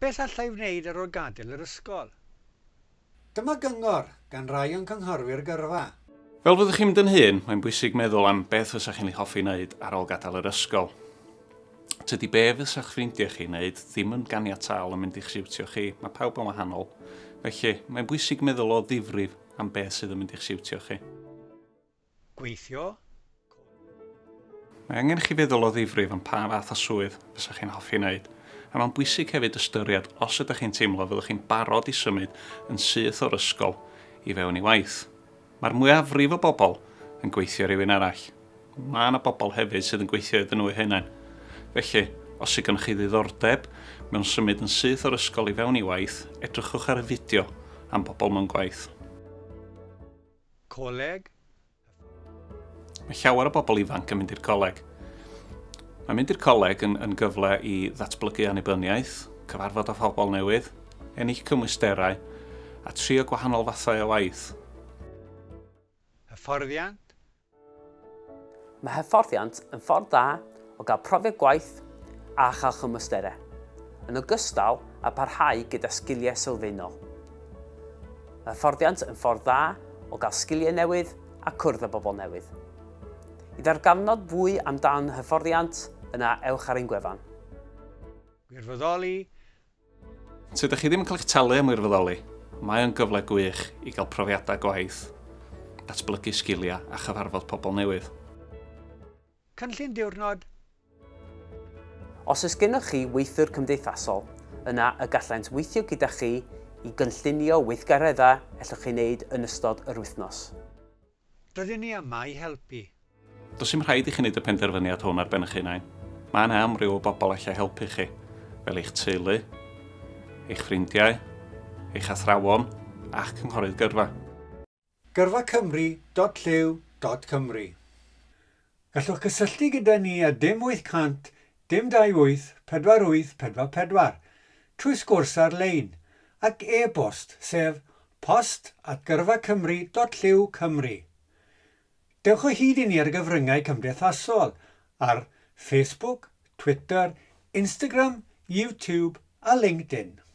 Beth allai wneud ar ôl gadael yr ysgol? Dyma gyngor gan rai o'n cynghorwyr gyrfa. Fel fyddwch chi'n mynd yn hŷn, mae'n bwysig meddwl am beth fysach chi'n ei hoffi wneud ar ôl gadael yr ysgol. Tydi be' fysa'ch ffrindiau chi'n wneud ddim yn ganiataol yn mynd i'ch siwtio chi, mae pawb yn wahanol. Felly, mae'n bwysig meddwl o ddifrif am beth sydd yn mynd i'ch siwtio chi. gweithio. Mae angen i chi feddwl o ddifrif am pa fath o swydd fysa chi'n hoffi wneud, a mae'n bwysig hefyd ystyried os ydych chi'n teimlo fyddwch chi'n barod i symud yn syth o'r ysgol i fewn i waith. Mae'r mwyafrif o bobl yn gweithio i rywun arall. Mae yna bobl hefyd sydd yn gweithio iddyn nhw eu hunain. Felly, os yw gennych chi ddiddordeb mewn symud yn syth o'r ysgol i fewn i waith, edrychwch ar y fideo am bobl mewn gwaith. Coleg? Mae llawer o bobl ifanc yn mynd i'r coleg. Mae mynd i'r coleg yn, yn gyfle i ddatblygu annibyniaeth, cyfarfod â phobl newydd, ennill cymwysterau a trio gwahanol fathau o waith. Hyfforddiant? Mae hyfforddiant yn ffordd dda o gael profiad gwaith a chael chymwysterau, yn ogystal â parhau gyda sgiliau sylfaenol. Mae hyfforddiant yn ffordd dda o gael sgiliau newydd a cwrdd â bobl newydd. I ddarganfod fwy amdan hyfforddiant, yna ewch ar ein gwefan. Gwirfoddoli, Os ydych chi ddim yn cael eich talu am wirfoddoli, mae o'n gyfle gwych i gael profiadau gwaith, datblygu sgiliau a chyfarfod pobl newydd. Cynllun diwrnod. Os oes gennych chi weithiwr cymdeithasol, yna y gallent weithio gyda chi i gynllunio weithgareddau ellwch chi wneud yn ystod yr wythnos. Rydyn ni yma i helpu. Does dim rhaid i chi wneud y penderfyniad hwn ar ben eich hunain. Mae yna amryw o bobl allai helpu chi, fel eich teulu, eich ffrindiau, eich athrawon a'ch cynghorydd gyrfa. Gyrfa Cymru dot llyw dot Cymru Gallwch gysylltu gyda ni ar dim 800 dim 28 48 44 trwy sgwrs ar-lein ac e-bost sef post at gyrfacymru dot llyw cymru. Dewch o hyd i ni ar gyfryngau cymdeithasol ar Facebook, Twitter, Instagram, YouTube a LinkedIn.